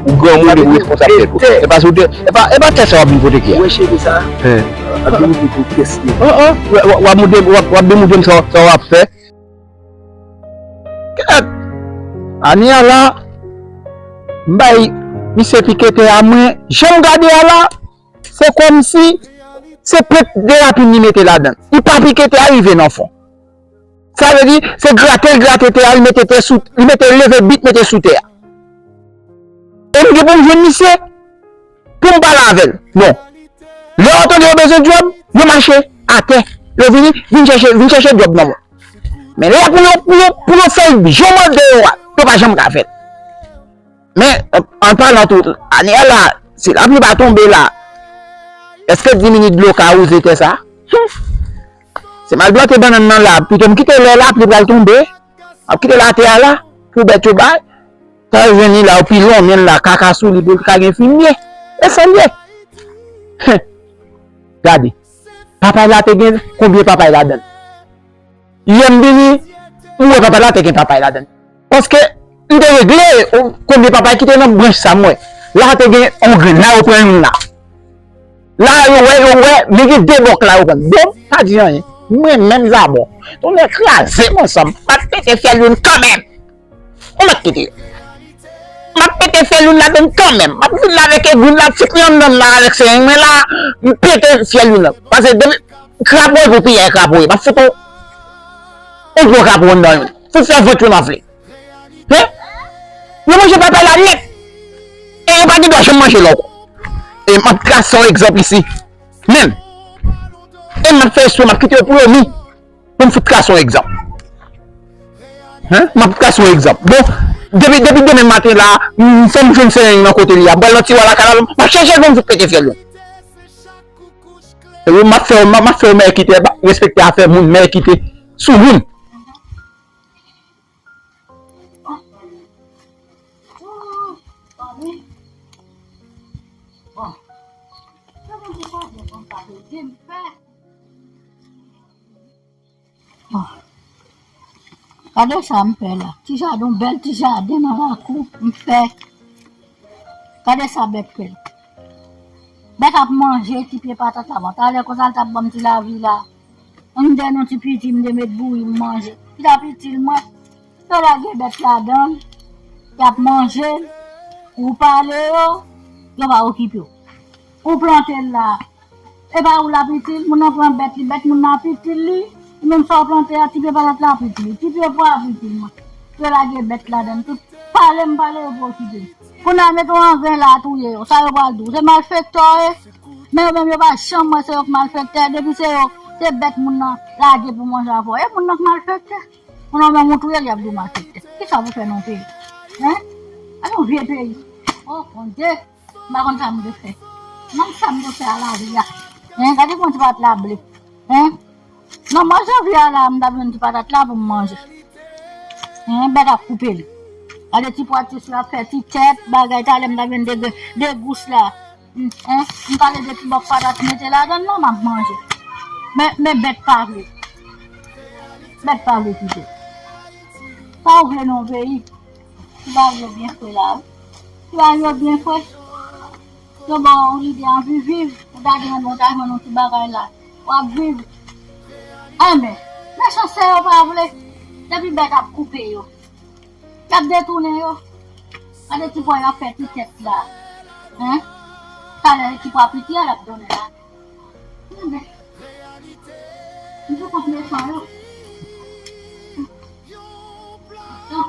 Ou granmoun epi ou responsab tèt ou. E pa sou tè, e pa, e pa tè sa wap vin pote kè. Wè cheve sa? Hein. Wap vin moute pou kès li. An an, wap moute, wap vin moute m sa wap fè. Kèt! Ani a la, m bay misye pike tè a mwen, janm gade a la, se kòm si se pèt de lapin li mete ladan. Li pa pike tè a rive nan fon. Sa vle di, se grate l grate tè a, li mete tè sou, li mete l leve bit mete sou tè a. E m gen pou m jwenn misye, pou m pale avè l. Non. Lè yo tande yo bezwen djòb, yo mache atè. Yo vini, vin chèche, vin chèche djòb nan mwen. Men lè pou yo, pou yo, pou yo fè l jan m mande yo a, yo pa janm ka fè l. Men, an palan tou, ane a la, si lapli pa tonbe la, èske 10 minit dlo ka wouze tè sa a? Humm! Se mal bloke bannann nan la pito m kite lè lapli pral tonbe map kite l atè a la pou bèt yo bay tan jwenn li la yo pi lonmen l la kaka sou li pou l ka gen fimye e sa l ye hen gade papay la te gen konbyen papay ladan l yè m vini m wè papay la te gen papay ladan l. Paske m te regle konbyen papa ki te nan branch sa m wè. La te gen yon grenn, la yo pran youn la. La yo wè, yo wè, men gen de bòk la yo pran. Bon, m pa di anyen. Mwen menm zabò. Tonnè kraze m ansanm. M ap pete fyèl youn kanmenm. Bon, m ap kite yo. M ap pete fyèl youn ladan l kanmenm. M ap vin la avèk egou m la, ti pwen anndan m la avèk serinj mwen la. M pete fyèl youn la. Pase depi, krapo epi pyè krapo ye. M ap fout yon gwo krapo anndan youn. pou fè vant yo manfle. Hein? Yo manje papay la nèt! E yo pa gen dwa janm manje l ankò. E m ap trase yon egzanp isi, menm. E m ap fè espre m ap kite yo pou yo mi, pou m fout trase yon egzanp. Hein? M ap trase yon egzanp. Bon, depi demen maten la, fò m jwenn Sereng nan kote li a. M pral nan tiwa lakay la, m ap chèche l pou m fout pete fyèl yo. E m ap fè yo mèkite, respekte afè moun, mèkite. Sou moun. Kade sa m fè la. Ti jaden, bèl ti jaden nan lakou m fè. Kade sa bèt fè. Bèt ap manje ti pye patat la. Bon, talè konsa l t ap banm ti lavi la. M gen yon ti piti m te met bouyi m manje. Li tap itil mwen. Yo lage bèt ladan l, y ap manje l, ou pale yo, yo pa okipe w. Ou plante l la, e pa ou l ap itil, moun nan pran bèt li, bèt moun nan ap itil li, ou menm sa w plante a, ti pye patat la ap itil ou, ti pye pwa a ap itil mwen. Yo lage bèt ladan l tout. Pale m pale yo pa okipe m. Kounal met ou anven la touye yo sa yo pral di ou se malfektò e men yo menm yo pa janm wè se yo k malfektè depi se yo se bèt moun nan lage pou manje avò e moun nan k malfektè moun nan menm ou touyel yap di ou malfektè kisa pou fè nan peyi hein a yon vye peyi oh bondye m pa konn sa m dwe fè m pa konn sa m dwe fè a lavi a hein gade kman ti pat la ble hein. Nan mwa janvye a la m tap jwenn ti patat la pou m manje Hen bèt ap koupe li Gade ti pwa tis la ap fè ti tèt bagay talè m tap jwenn de grenn de gous la Hen m pale de ti bòk patat mete ladan l la m ap manje Men men bèt pa vle Bèt pa vle kite Sa w vle nan yon peyi Ti bagay yo byen fre la wi Ti bagay yo byen fre Yo baw lide anvi viv ou ta genyen bon ta jwenn yon ti bagay la wap viv anben mechan sè yo pa vle depi bèt ap koupe yo yap detounen yo gade ti bwa yap fè ti tèt la hein talè ti bwa piti a yap donnen la anben m sou kont mechan yo humm.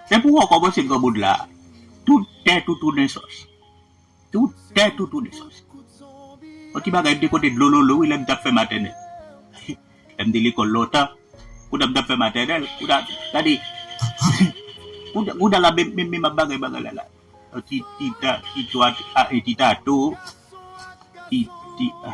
Se pou wè w kòmanse granmoun la a. Tout tè toutou nesans. Tout tè toutou nesans. On ti bagay m te konte dlololo wi lè m t ap fè matènèl. Lè m te lekòl lontan, koutan m t ap fè matènèl, koutan, gade, koutan la menm menm menm ap bagay bagay la la. On ti ti ta ti twa a e ti tato, ti ti a.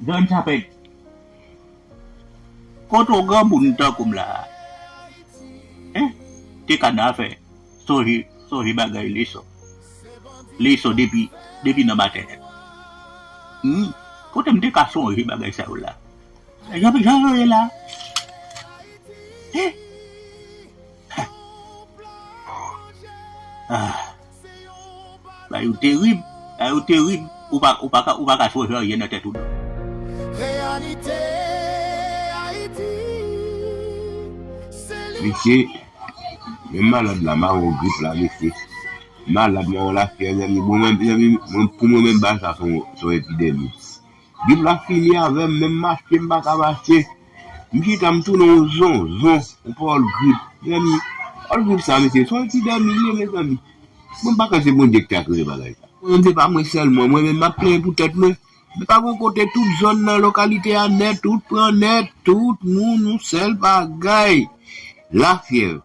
Don Tapet Kot on granmoun tankoum la hein te ka nan afè sonje sonje bagay leson leson depi depi nan matènèl humm kotem te ka sonje bagay sa yo la jan jan yo ye la hein ahh. Bagay yo terib, bagay yo terib, ou pa ou pa ka ou pa ka chonje anyen nan tèt ou non. Reyalite Ayiti se li wap Mesye, menm malad la mawon grip la mesye, malad mawon lafyèv zanmi, mwen menm zanmi mwen pou mwen menm ba sa son son epidemi. Bib la fini avèm menm mache m paka mache m chita m tounen yon zonzon yon pawòl grip mezanmi pawòl grip sa mesye son ti dòmi li ye mezanmi bon m pa kwè se Bondye ki ta kreye bagay sa m konnen se pa mwen sèlman mwen menm m ap plenyen pou tèt mwen men pa gon kote tout zòn nan lokalite a nèt wout pran nèt tout moun yon sèl bagay lafyèv.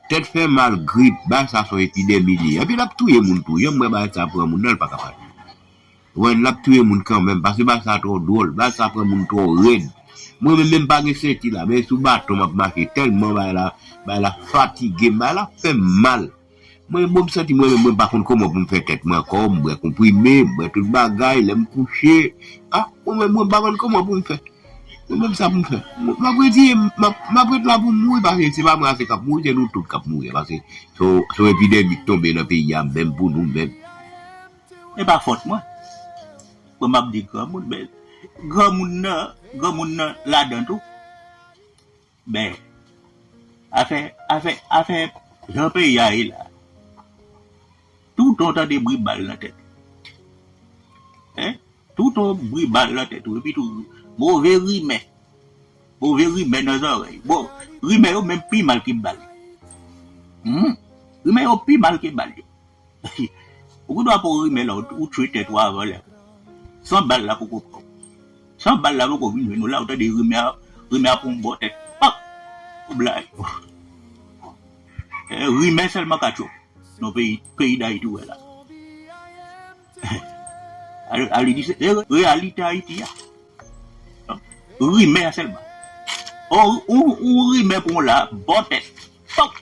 Tèt fè mal, grip, bagay sa son epidemi li ye. Epi lap touye moun tou. Janm wè bagay sa pran moun nan li paka pa touye. Ou konprann lap touye moun kanmenm paske bagay sa twò dwòl. Bagay sa pran moun twò rèd. Mwen menm menm pa gen senti la men sou baton map mache tèlman bagay la bagay la fatigem bagay la fèm mal. Mwen bonm santi mwen menm mwen pa konn kòman poum fè tèt mwen ankò m bwè konprime m bwè tout bagay lèm kouche ah mwen menm mwen pa konn kòman poum fè. Mwen menm sa pou m fè. M ap redi, m ap ret la pou m mouri paske se pa mwen ase k ap mouri, se nou tout k ap mouri paske se yon epidemi k tonbe nan peyi a menm pou nou menm. E pa fòt mwen. Mwen m ap di granmoun men granmoun nan, granmoun nan ladan tou. Ben, afè, afè, afè jan peyi a ye la, toutan w tande bri bal nan tèt ou. Hein? Toutan w bri bal nan tèt ou epi tou move rimè, move rimè nan zòrèy. Bon, rimè yo menm pi mal ke bal. Hum, rimè yo pi mal ke bal yo. Ou gen dwa pou rimè la ou tchwe tèt ou avan lè. San bal la poko pran ou. San bal la poko vin jwenn ou la ou tande rimè a rimè a pran ou bò tèt pap ou blayi. Rimè sèlman ka tchwe ou nan peyi peyi dayiti ou wè la. A li di se reyalite ayiti a. Rimè a sèlman. Ou rimè pran ou la bò tèt pap.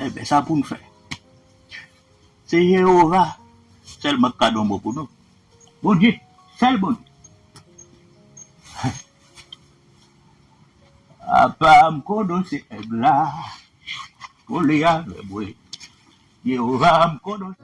Enben, sa pou n fè? Se Jewova sèlman k ka don bon pou nou. Bondye, sèl Bondye. Apa m konnen w se Èg la, kole avè mwen, Jewova, m konnen w.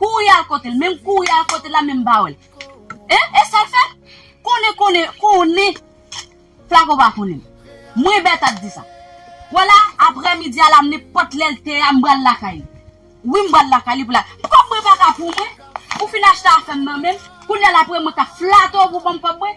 Kouri al kotel menm kouri al kotel la menm pa wèl eh esal fè konnen konnen konnen flaco pa konnenl mwen Bertha t disa wè la aprè midi a la nenpòt lèl t ya m pral lakay li wi m pral lakay li pou la kòb mwen paka pou mwen ou fin achte afèm nan menm kounya la aprè mwen kap flato pou banm kòb mwen.